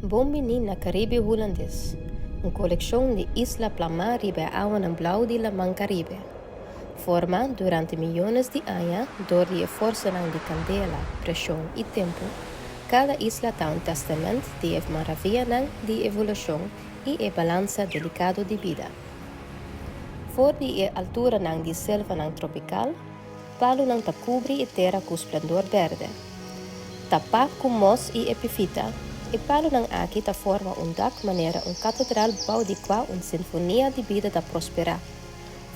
Bon biní na Karibe Hulandes, un kolekshon di isla plamá riba e awanan blau di Laman Karibe. forma durante miyones di aña dor di eforsonan di kandela, preshon i tempu, kada isla ta un tèstament di e maravianan di evolushon i e balansa delikado di bida. For di e alturanan di selvanan tropikal, palunan ta kubri e tera ku splendor bèrdè. Tapá ku mos i epifita, e palunan aki ta forma un dak manera un katedral bou di kua un sinfonia di bida ta prosperá.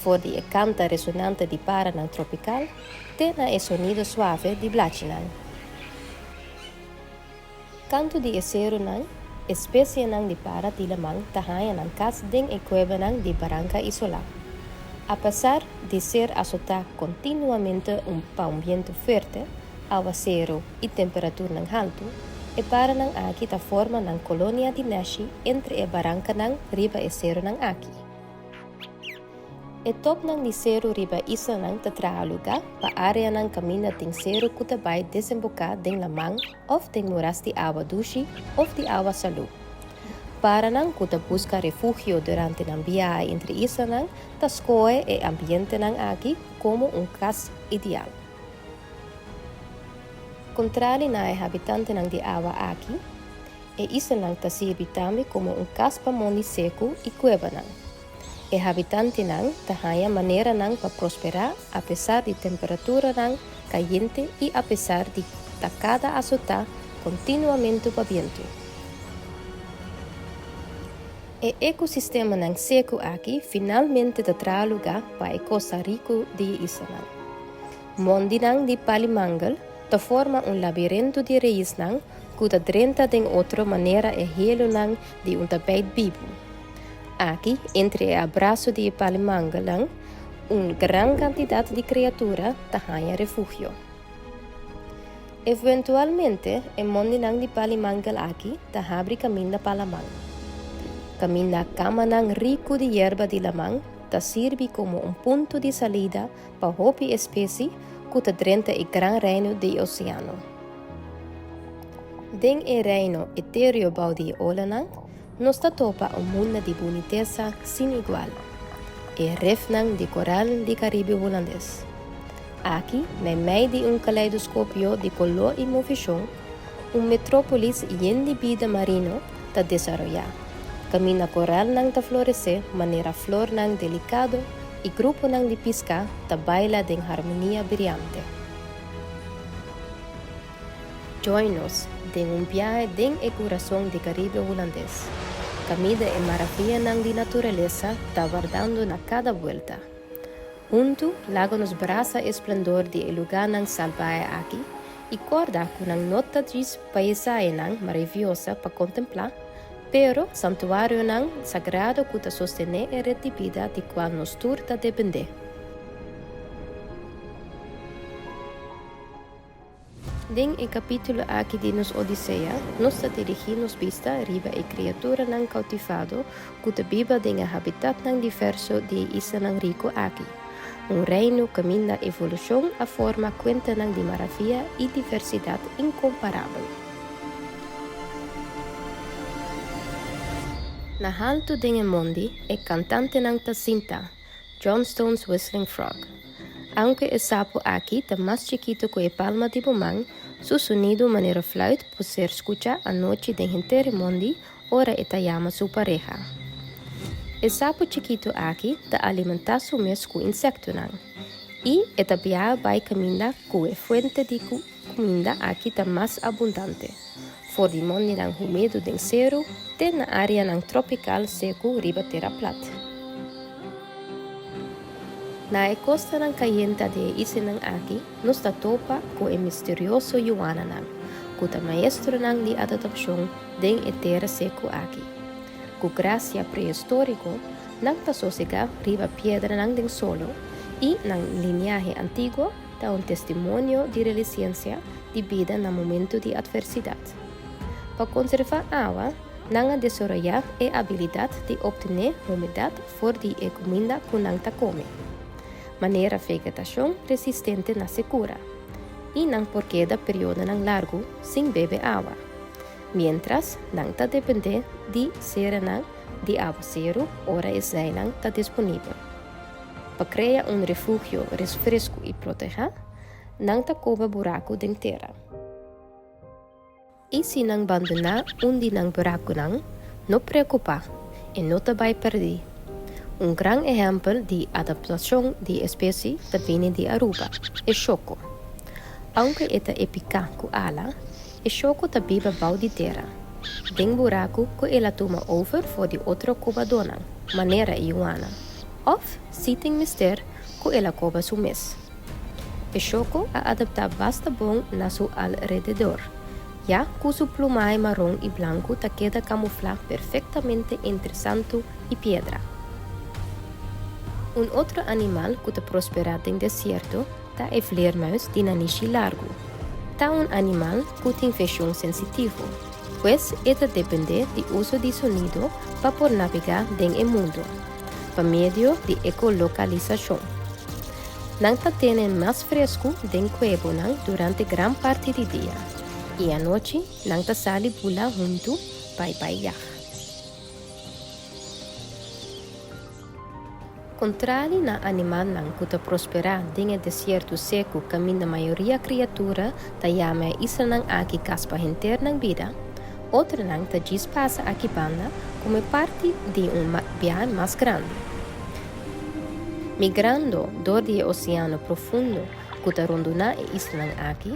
for di e kanta resonante di paranan tropikal te na e sonido suave di blachinan. Kantu di e serunan, e spesienan di para Tieleman ta haña nan kas den e kuebanan di baranka isolá. Apesar di ser asotá kontinuamente pa un bientu fuerte, awa seru i temperaturnan haltu, e paranan aki ta forma nan kolonia di neshi entre e barankanan riba e serunan aki. E topnan di seru riba e islanan ta traha lugá pa áreanan kaminda den seru ku ta bai desemboká den laman òf den muras di awa dushi òf di awa salú. Paranan ku ta buska refugio durante nan biaha entre islanan ta skohe e ambientenan aki komo un kas ideal. Kontrali na e habitantenan di awa aki, E islanan ta sirbi tambe komo un kas pa mondi seku i kuebanan. E habitantenan ta haña maneranan pa prosperá apesar di temperaturanan kayente i apesar di ta kada asotá kontinuamentu pa bientu. E ekosistemanan seku aki finalmente ta traha lugá pa e kosta riku di e islanan. Mondinan di Palimangal ta forma un labirentu di reisnan ku ta drenta den otro manera e hielonan di un tapijt bibu. Aki, entre e abraso di e palimanganan, un gran kantidat di kreatura ta haña refugio. Evuentualmente e mondinan di palimangal aki ta habri kaminda pa laman, kaminda kamanan riku di yerba di laman ta sirbi komo un punto di salida Pa hopi espesi ku ta drenta e gran reino di e oseano. Den e reino eterio bou di e olanan, nos ta topa un munda di bunitesa sin igual, e rifnan di koral di Karibe Hulandes. Aki, meimei di un kaleidoskopio di koló i movishon, Un metrópolis yen di bida marino ta desaroyá, kaminda korèlnan ta floresé manera flornan delikado i gruponan di piská ta baila den harmonia briante. Join nos den un biahe den e kurason di Karibe Hulandes, kaminda e maravianan di naturalesa ta wardando na kada buelta. Huntu laga nos brasa e splendor di e lugánan salbahe aki I korda ku nan no ta djis paisaenan maraviosa pa kontemplá, pero santuarionan sagrado ku ta sostené e ret di bida di kual nos tur ta dependé. Den e kapítulo aki di nos Odisea, nos ta dirigí nos bista riba e kriaturanan koutifado, ku ta biba den e habitatnan diverso di e isanan riku aki, un reino kaminda evolushon a forma kuentanan di maravia i diversidat inkomparabel. Na haltu den e mondi e kantantenan ta sinta, Johnstone's Whistling Frog. Aunke e sapu aki ta mas chikitu ku e palma di bo man, su sonidu manera fluit por ser skucha anochi den henter e mondi, Ora e ta yama su pareha. E sapu chikitu aki ta alimentá su mes ku insektunan i e ta bia bai kaminda ku e fuente di kuminda aki ta mas abundante for di mondinan humedu den seru te na áreanan tropikal seku riba tera plat. Na e kostanan kayenta di e isinan aki nos ta topa ku e misterioso yuananan, ku ta maestronan di adadapshon, Den e tera seku aki. Ku grasia prehistoriko, nan ta sosegá riba piedranan den solo, i nan liniahe antiguo ta un testimonio di relisiensia di bida na momentu di atversidat. Pa konservá awa, nan a desaroyá e abilidat di optené humidat for di e kuminda ku nan ta kome. Manera vegetashon resistente na sekura, i nan por keda periodonan largu sin bebe awa. miéntras nan ta dependé di serenan di awaseru ora e zeinan ta disponibel. Pa krea un refugio res fresku i protegá, nan ta koba buraku den tera. I si nan bandoná un di nan burakunan, no preokupá, e no ta bai pèrdí. Un gran ehèmpel di adaptashon di espesi ta bini di Aruba, e shoko. Ounke e ta e piká ku ala, E shó ku ta biba bou di tera, den buraku ku el a tuma over for di otro kobadonan, manera e Yuana, òf si tin mester ku el a koba su mes. E shóko a adaptá basta bon na su alrededor, ya ku su plumahe maron i blanku ta keda kamuflá perfektamente entre santu i piedra. Un otro animal ku ta prosperá den desierto, Ta e vleermuis di nanishi largu. Ta un animal cu tin veshon sensitivo, pues e ta depende di uso di sonido pa por navega den e mundo, pa medio di echolocalisacion. Nan ta tene mas frescu den cuebonan durante gran parti di dia y anochi nan ta sali bula huntu bai bai yah. Kontrali na animalnan ku ta prosperá den e desierto seku kaminda mayoria kriatura ta yama e islanan aki kas pa henter nan bida, otronan ta djis pasa aki banda komo e parti di un biahe mas grandi. Migrando dor di e oseano profundo ku ta rondoná e islanan aki,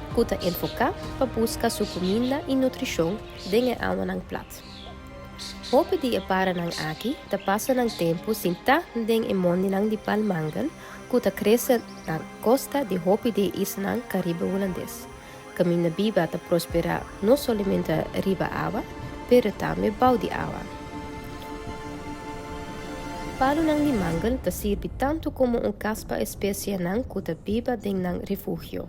ku ta enfoká pa buska su kuminda i nutrishon den e awanan plat. Hopi di e paranan aki ta pasa nan tempu sintá den e mondinan di palmangel ku ta krese na kosta di hopi di e islanan Karibe Hulandes, kaminda biba ta prosperá no solamente riba awa, pero tambe bou di awa. Palunan di mangel ta sirbi tantu komo un kas pa e spesienan ku ta biba den nan refugio.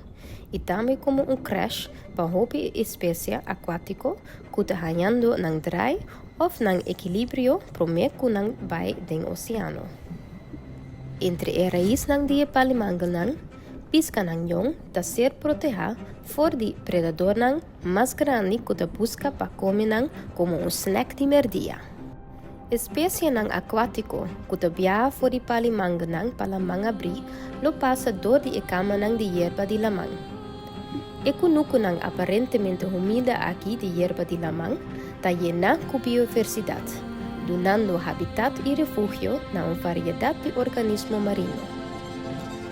i tambe komo un crash pa hopi espesia akuátiko ku ta hañando nan drai òf nan ekilibrio promé ku nan bai den oseano. Entre e raisnan di e palimangelnan, piskanan yon ta ser protehá for di predadornan mas grandi ku ta buska pa kome nan komo un snèk di merdia. Spesienan akuátiko ku ta biaha for di pali manganan pa laman abrí lo pasa dor di e kamanan di yerba di laman. E kunukunan aparentemente humilde aki di yerba di laman ta yená ku bioiversidat, dunando habitat i refugio na un variedat di organismo marino.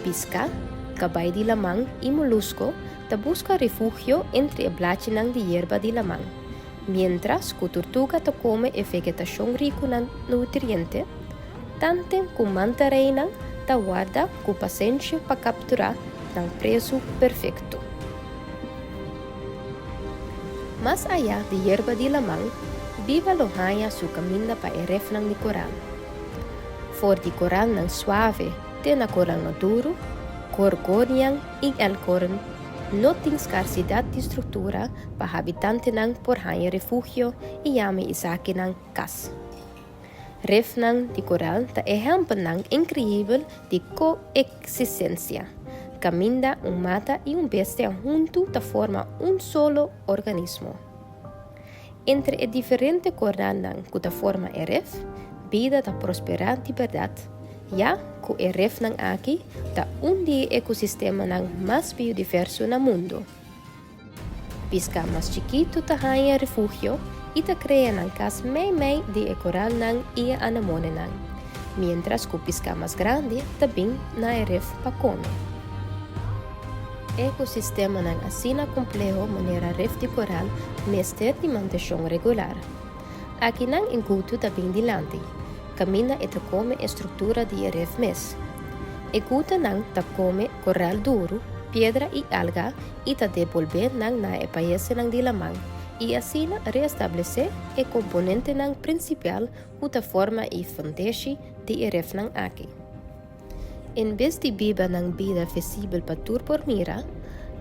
Piska, kabay di laman i molusko Ta buska refugio entre e blachinan di yerba di laman. Mientras cu turtuga ta come e vegetacion ricu na nutriente, tanten cu mantareinan ta warda cu pasenshi pa captura nan presu perfecto. Mas aya di yerba di laman, biba lo haya su caminda pa e refnan di coral. For di coralnan suave te na coralnan duru, gorgonian In Elkhorn no tin skarsidat di struktura pa habitantenan por haña refugio i yama esakinan kas. Rifnan di koral ta ehèmpelnan inkreyibel di koeksistensia, kaminda un mata i un bestia huntu ta forma un solo organismo. Entre e diferente kornannan ku ta forma e ref, bida ta prosperá di bèrdat, ya ku e refnan aki ta un di e ekosistemanan mas biodiverso na mundu. Piská mas chikitu ta haña refugio i ta krea nan kas meimei den e koralnan i e anemonenan, miéntras ku piská mas grandi ta bin na e ref pa kome. Ekosistemanan asina kompleho manera rif di koral mester di manteshon regular. Aki nan e gutu ta bin dilanti, kaminda e ta kome e struktura di e rif mes. E gutanan ta kome koral duru, piedra i alga i ta debolbé nan na e paesenan di laman i asina reestablesé e komponentenan prinsipial ku ta forma e fondeshi di e rifnan aki. En bes di biba nan bida fesibel pa tur por mira,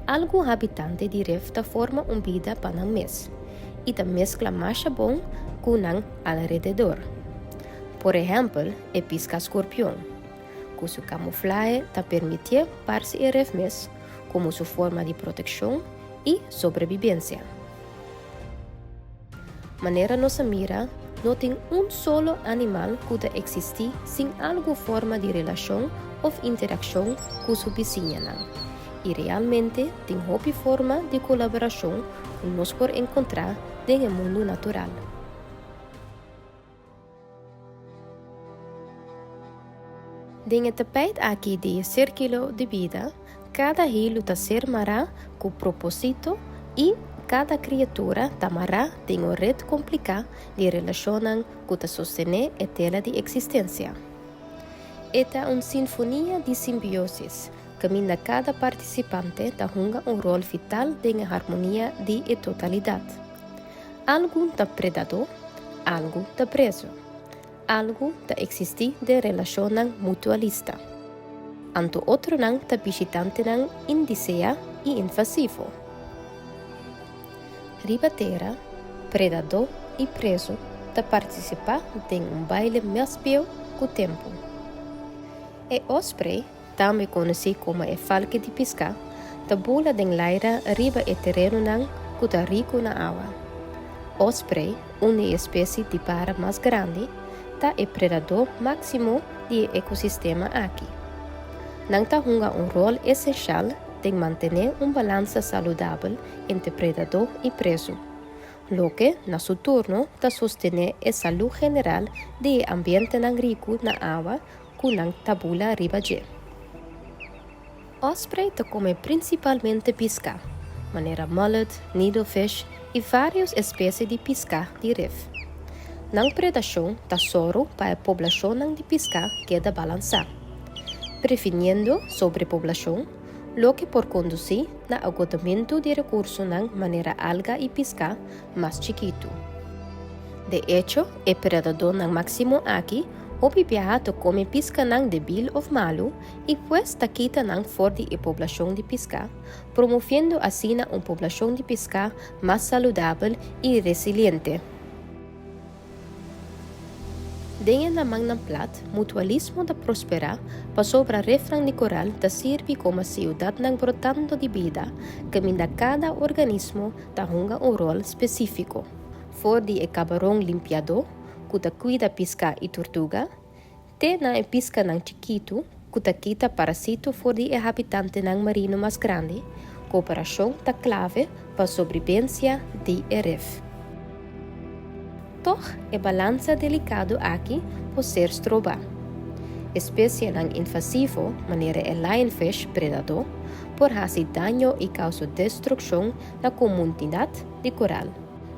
algun habitante di Rif ta forma un bida pa nan mes i ta meskla masha bon ku nan alrededor. Por ehèmpel, e piska skorpion, ku su kamuflahe ta permitié parse e Rif mes komo su forma di protekshon i sobrebibensia. Manera nos a mira, no tin un solo animal ku ta eksistí sin algu forma di relashon òf interakshon ku su bisiñanan. I realmente tin hopi forma di kolaborashon ku nos por enkontrá den e mundu natural. Den e tapijt aki di e sirkilo di bida, kada hilu ta ser mará ku propósito i kada kriatura ta mará den un ret kompliká di relashonnan ku ta sostené e tela di eksistensia. E ta un sinfonia di simbiosis, kaminda kada partisipante ta hunga un ròl vital den e harmonia di e totalidat. Algu ta predadó, algu ta preso. Algu ta eksistí den relashonnan mutualista. Anto otronan ta bishitantenan indiseá i invasivo. Riba tera, predadó i preso ta partisipá den un baile mas bieu ku tempu. E òspre tambe konosí komo e falke di piská, ta bula den laira riba e terenonan ku ta riku na awa. Osprey, un di e espesie di para mas grandi, ta e predadó máksimo di e ekosistema aki. Nan ta hunga un ròl esenshal den mantené un balansa saludabel entre predadó i presu, loke na su turno ta sostené e salú general di e ambientenan riku na awa ku nan ta bula riba dje. Osprey ta kome prinsipalmente piská, manera mullet, needlefish i vários espesie di piská di ref. Nan predashon ta sòru pa e poblashonnan di piská keda balansá, previniendo sobrepoblashon, loke por kondusí na agotamentu di rekursonan manera alga i piská mas chikitu. De echo, e predadónan máksimo aki hopi biaha ta kome piskanan debil òf malu i pues ta kita nan for di e poblashon di piská, promoviendo asina un poblashon di piská mas saludabel i resiliente. Den e lamannan plat, mutualismo ta prosperá pasobra refran di koral ta sirbi koma siudatnan brotando di bida, kaminda kada organismo ta hunga un ròl spesífiko, for di e kabaron limpiadó ku ta kuida piská i turtuga, Te na e piscanan chikitu cu ta kita parasito for di e habitantenan marino mas grandi, cooperacion ta clave pa sobribencia di e rif. Tog, e balansa delicado aki por ser stroba. Especienan invasivo, manera e lionfish predador, por haci daño y causa destruccion na comunidad di coral,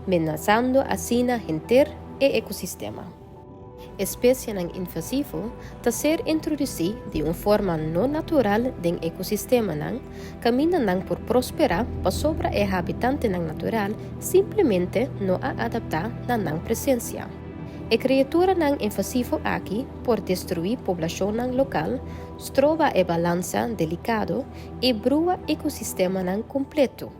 menazando asina henter e ecosistema. Espesienan invasivo ta ser introdusí di un forma no natural den ekosistemanan, kaminda nan por prosperá pasobra e habitantenan natural simplemente no a adaptá na nan presensia. E kreaturanan invasivo aki por destruí poblashonnan lokal, stroba e balansa delikado i brua ekosistemanan kompletu.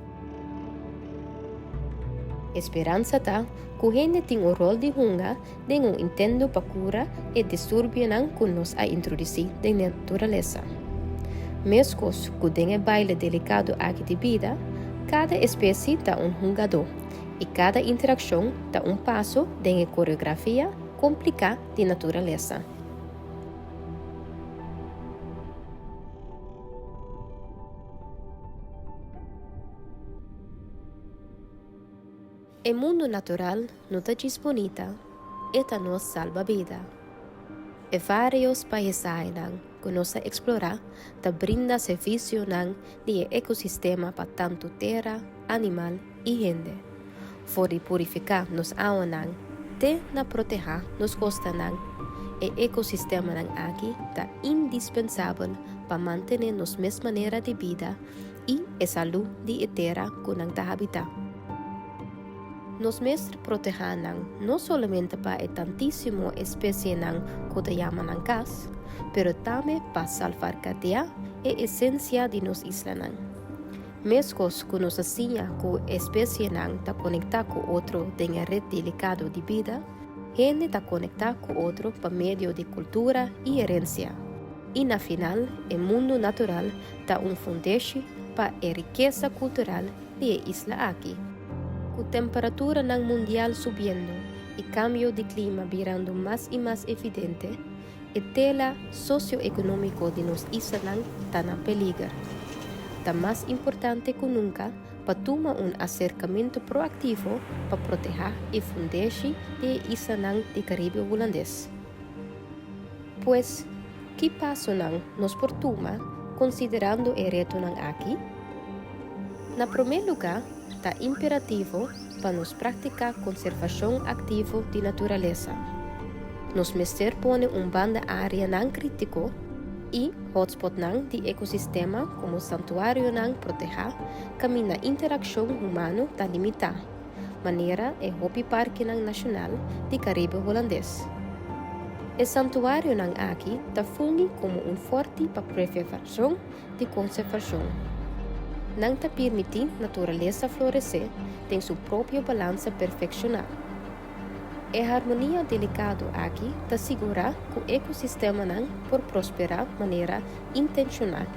E speransa ta ku hende tin un rol di hunga den un intento pa kura e disturbionan ku nos a introdusí den naturalesa. Meskos ku den e baile delikado aki di bida, kada espesie ta un hungadó i kada interakshon ta un paso den e koreografia kompliká di naturalesa. E mundu natural no ta djis bunita, e ta nos salba bida. E vários paisaenan ku nos a eksplorá ta brinda servisionan di e ekosistema pa tantu tera, animal i hende. For di purifiká nos awanan te na protehá nos kostanan, e ekosistemanan aki ta indispensabel pa mantené nos mes manera di bida i e salú di e tera ku nan ta habitá. Nos mester protehá nan no solamente pa e tantísimo espesienan ku ta yama nan kas, pero tambe pa salvarkateá e esensia di nos islanan. Meskos ku nos a siña ku espesienan ta konektá ku otro den e ret delikado di bida, hende ta konektá ku otro pa medio di kultura i erensia. I na final, e mundu natural ta un fundeshi pa e rikesa kultural di e isla aki. Ku temperaturanan mundial subiendo i kambio di klima birando mas i mas evidente, E tela socio-economico di nos islanan ta na peliger. Ta mas importante cu nunca pa tuma un acercamento proactivo pa proteha e fundeshi di e islanan di Caribe Hulandes. Pues, ki pasonan nos por tuma considerando e retonan aki? Na prome lugar, ta imperativo Pa nos practica conservacion activo di naturalesa, nos mester pone un banda areanan critico y hotspotnan di ecosistema como santuarionan proteha caminda interaccion humano ta limita, manera e hopi parkinan nacional di Caribe Holandes. E santuarionan aki ta fungi como un forti pa prevervacion di konservashon. Nan ta pirmití naturalesa floresé den su propio balansa perfekshoná. E harmonia delikado aki ta sigurá ku ekosistemanan por prosperá manera intenshoná,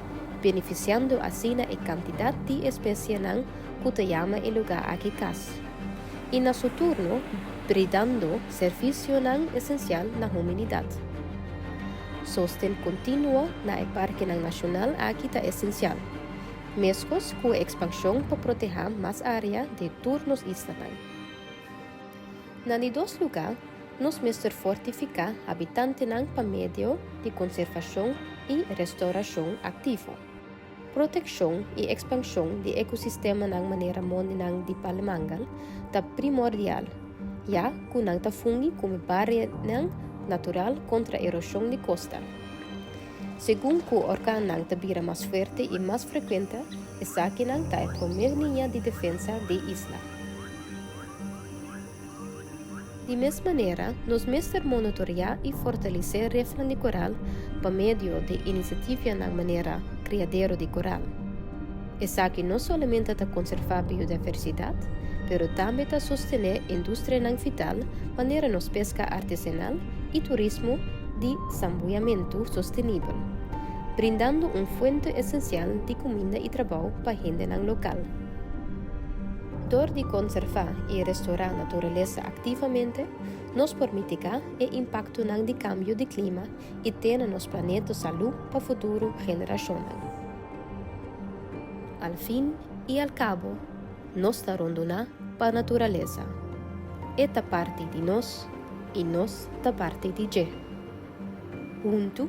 benefisiando asina e kantidat di espesienan ku ta yama e lugá aki kas, i na su turno bridando servisionan esensial na hominidat. Sosten kontinuo na e parkenan nashonal aki ta esensial, meskos ku e ekspanshon pa protehá mas área den tur nos islanan. Na di dos lugá, nos mester fortifiká habitantenan pa medio di konservashon i restaurashon aktivo. Protekshon i ekspanshon di ekosistemanan manera mondinan di palemangal ta primordial, ya ku nan ta fungi komo barianan natural kontra eroshon di kosta. Segun ku orkannan ta bira mas fuerte i mas frekuente, esakinan ta e promé liña di defensa dei isla. Di mes manera, nos mester monitorea i fortalesé refnan di koral pa medio di inisiativanan manera kriadero di koral. Esaki no solamente ta konservá biodiversidat, pero tambe ta sostené industrianan vital manera nos peska artesanal i turismo di sambuyamentu sostenibel, brindando un fuente esensial di kuminda i trabou pa hendenan lokal. Dor di konservá i restourá naturalesa aktivamente, nos por mitigá e impaktonan di kambio di klima i tene nos planeto salú pa futuro generashonnan. Al fin i al kabo, nos ta ronduná pa naturalesa. E ta parti di nos i nos ta parti di dje. Huntu,